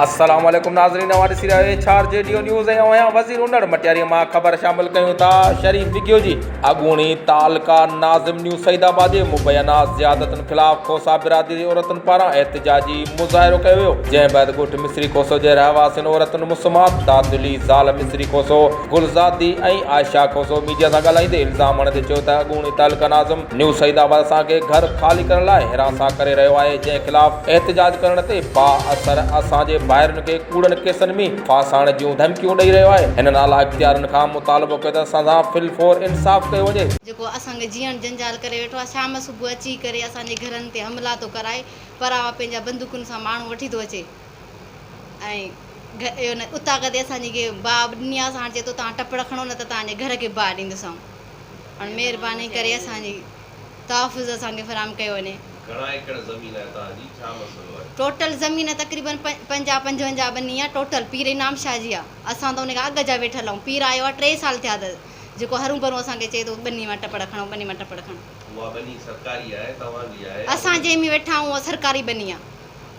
السلام عليڪم ناظرين اوهان ڏسي رهيا آهيو ڇار جي ڊيو نيوز ۽ اوهان وزير انڙ مٽياري مان خبر شامل ڪيون ٿا شريف وگيو جي اڳوڻي تعلقه ناظم نيو سعيد آباد جي مبينا زيادتن خلاف کوسا برادري جي عورتن پاران احتجاجي مظاهرو ڪيو ويو جنهن بعد ڳوٺ مصري کوسو جي رهواسين عورتن مسمات دادلي زال مصري کوسو گلزادي ۽ عائشه کوسو ميڊيا سان ڳالهائيندي الزام هڻندي چيو ته اڳوڻي تعلقه ناظم نيو سعيد آباد اسان کي گهر خالي ڪرڻ لاء هراسان ڪري رهيو آهي جنهن خلاف احتجاج ڪرڻ تي با اثر اسان جي ڀائرن کي ڪوڙن ڪيسن ۾ ڦاسائڻ جون ڌمڪيون ڏئي رهيو آهي هنن اعليٰ اختيارين کان مطالبو ڪيو ته اسان سان في الفور انصاف ڪيو وڃي. جيڪو اسان کي جيئڻ جنجال ڪري ويٺو آهي شام صبح اچي ڪري اسان جي گهرن تي حملا ٿو ڪرائي پراوا پنهنجا بندوقن سان ماڻهو وٺي ٿو اچي ۽ اتاڪ تي اسان جي با ڏني آهي ساڻ چي ٿو تان ٽپڙ کڻو نه ته تان جي گهر کي با ڏيندوسانو. هاڻ مهرباني ڪري اسان جي تحفظ اسان کي فراهم ڪيو وڃي. گهڻا ايڪڙ زمين آهي توهان جي ڇا مسئلو آهي. ٽوٽل زمين تقريبن پنجاهه پنجونجاهه ٻني آ ٽوٽل پير انعام شاهه جي آ اسان ته ان کان اڳ جا ويٺل آهيون پير آيو آ ٽي سال ٿيا اٿس جيڪو هرون ڀرون اسان کي چئي ٿو ٻني مان ٽپڙ کڻو ٻني مان ٽپڙ کڻو. اها ٻني سرڪاري آهي توهان جي آهي. اسان جنهن ۾ ويٺا آهيون اها سرڪاري ٻني آ.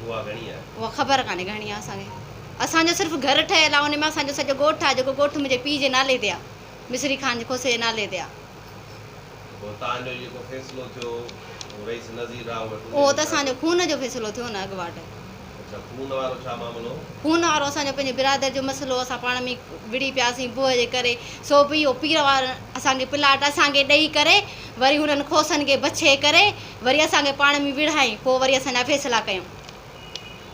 اها گهڻي آهي. اها خبر ڪانهي گهڻي آ اسان کي اسان جو صرف گهر ٺهيل آ ان ۾ اسان جو سڄو ڳوٺ آ جيڪو ڳوٺ منهنجي پيء جي نالي تي آ. مصري خان جي کوسي جي نالي تي آ. پوء تان جو جيڪو فيصلو ٿيو اهو رئيس نذير راء وٽ انهي اهو ته اسان جو خون جو فيصلو ٿيو نه اڳواٽ. اڇا خون وارو ڇا معاملو هو؟ خون وارو اسان جو پنهنجي برادر جو مسئلو هو اسان پاڻ ۾ وڙهي پياسين بوء جي ڪري سو به اهو پير وارن اسان کي پلاٽ اسان کي ڏئي ڪري وري هنن کوسن کي بڇي ڪري وري اسان کي پاڻ ۾ وڙهائين پوء وري اسان جا فيصلا ڪيون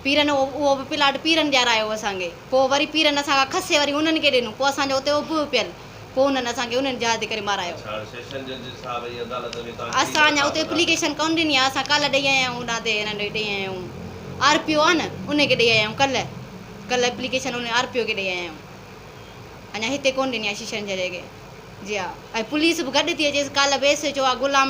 پيرن اهو به پلاٽ پيرن ڏيارايو اسان کي پوء وري پيرن اسان کان کسي وري انهن کي ڏنو پوء اسان جو اتي اڀ اپيل پوء انهن اسان کي انهن جهاز تي ڪري مارايو اسان اڃا اتي اپليڪيشن ڪونه ڏني آهي اسان ڪالهه ڏئي آيا آهيون هوڏانهن تي انهن ڏئي آيا آهيون آر پي او آهي نه ان کي ڏئي آيا آهيون ڪالهه ڪالهه اپليڪيشن انهن آر پي او کي ڏئي آيا آهيون اڃا هتي ڪونه ڏني آهي شيشنجهري کي جي ها ۽ پوليس به گڏ ٿي اچيس ڪالهه ويس جو آ غلام